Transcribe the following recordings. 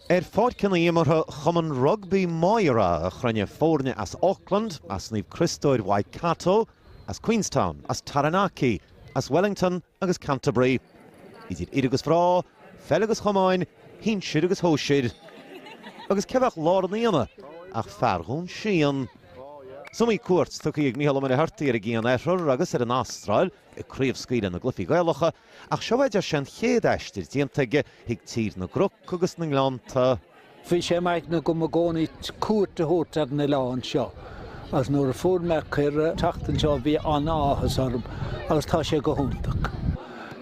Ar pháirceanna imeartha Chumann Rugbaí Mháire a chruinnigh foirne as Auckland, as Naomh Criostóir, Waikato, as Queenstown, as Taranaki, as Wellington agus Canterbury. Idir fhir agus mhná, pheil agus chamáin, shinsir agus shóisir. Agus cé bheadh lár an aonaigh ach fear Dhún Síon. Is iomaí cuairt tugtha ag Mícheál Ó Muircheartaigh ar an gCianoirthear agus ar an Astráil, ag craobhscaoileadh na gcluichí Gaelacha, ach seo, b'fhéidir, sin an chéad aistear déanta aige chuig Tír na gCnoc agus na nGleannta. Bhí sé i m'aigne agam i gcónaí cuairt a thabhairt ar an oileán seo agus nuair a fuair mé cuireadh teacht anseo bhí an-áthas orm agus tá sé go hiontach.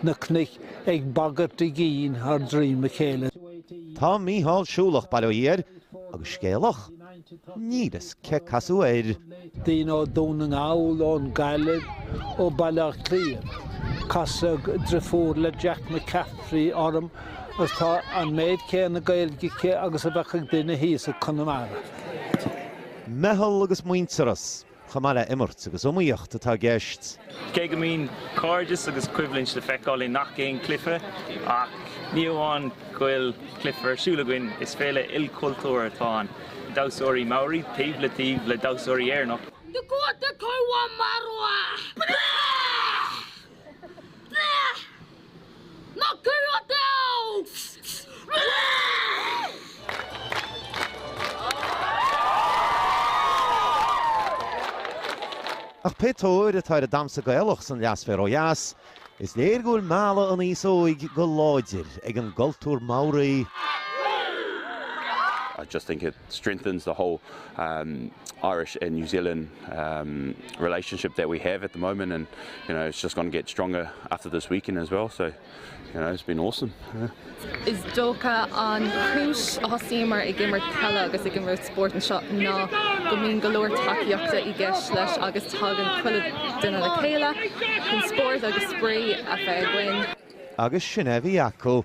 Na cnoic ag bagairt a gcinn thar droim a chéile. Tá Mícheál siúlach, bail ó Dhia air, agus scéalach. Níl a fhios cé casadh air. Daoine ó Dún na nGall, ón nGaillimh, ó Bhaile Átha Cliath. Casadh driofúr le Jack McCaffrey orm agus tá an méid céanna Gaeilge aici agus a bheadh ag duine thíos i gConamara. Meitheal agus muintearas. chomh maith le imirt agus iomaíocht atá i gceist. Cé go mbíonn cairdeas agus coimhlint le feiceáil i ngach aon chluiche, ach ní amháin go bhfuil cluiche ar siúl againn, is féile ilchultúrtha atá ann, damhsóirí Maori taobh le taobh le damhsóirí Éireannacha, Dakota Kauamarua. Ach pé tóir atá ar an damhsa Gaelach san leathsféar ó dheas, is léir go bhfuil a mhealladh an aos óig go láidir ag an gcultúr Maori. strengthens the whole um Irish and New Zealand um relationship that we have at the moment and you know it's just going to get stronger after this weekend as well so you know it's been awesome yeah. Is dócha an chúis a thosaíomair ag imirt peile agus ag imirt spóirt anseo ná go mbíonn go leor tacaíochta i gceist leis agus tagann chuile duine le chéile chun spórt agus spraoi a bheith againn. Agus sin a bhí acu.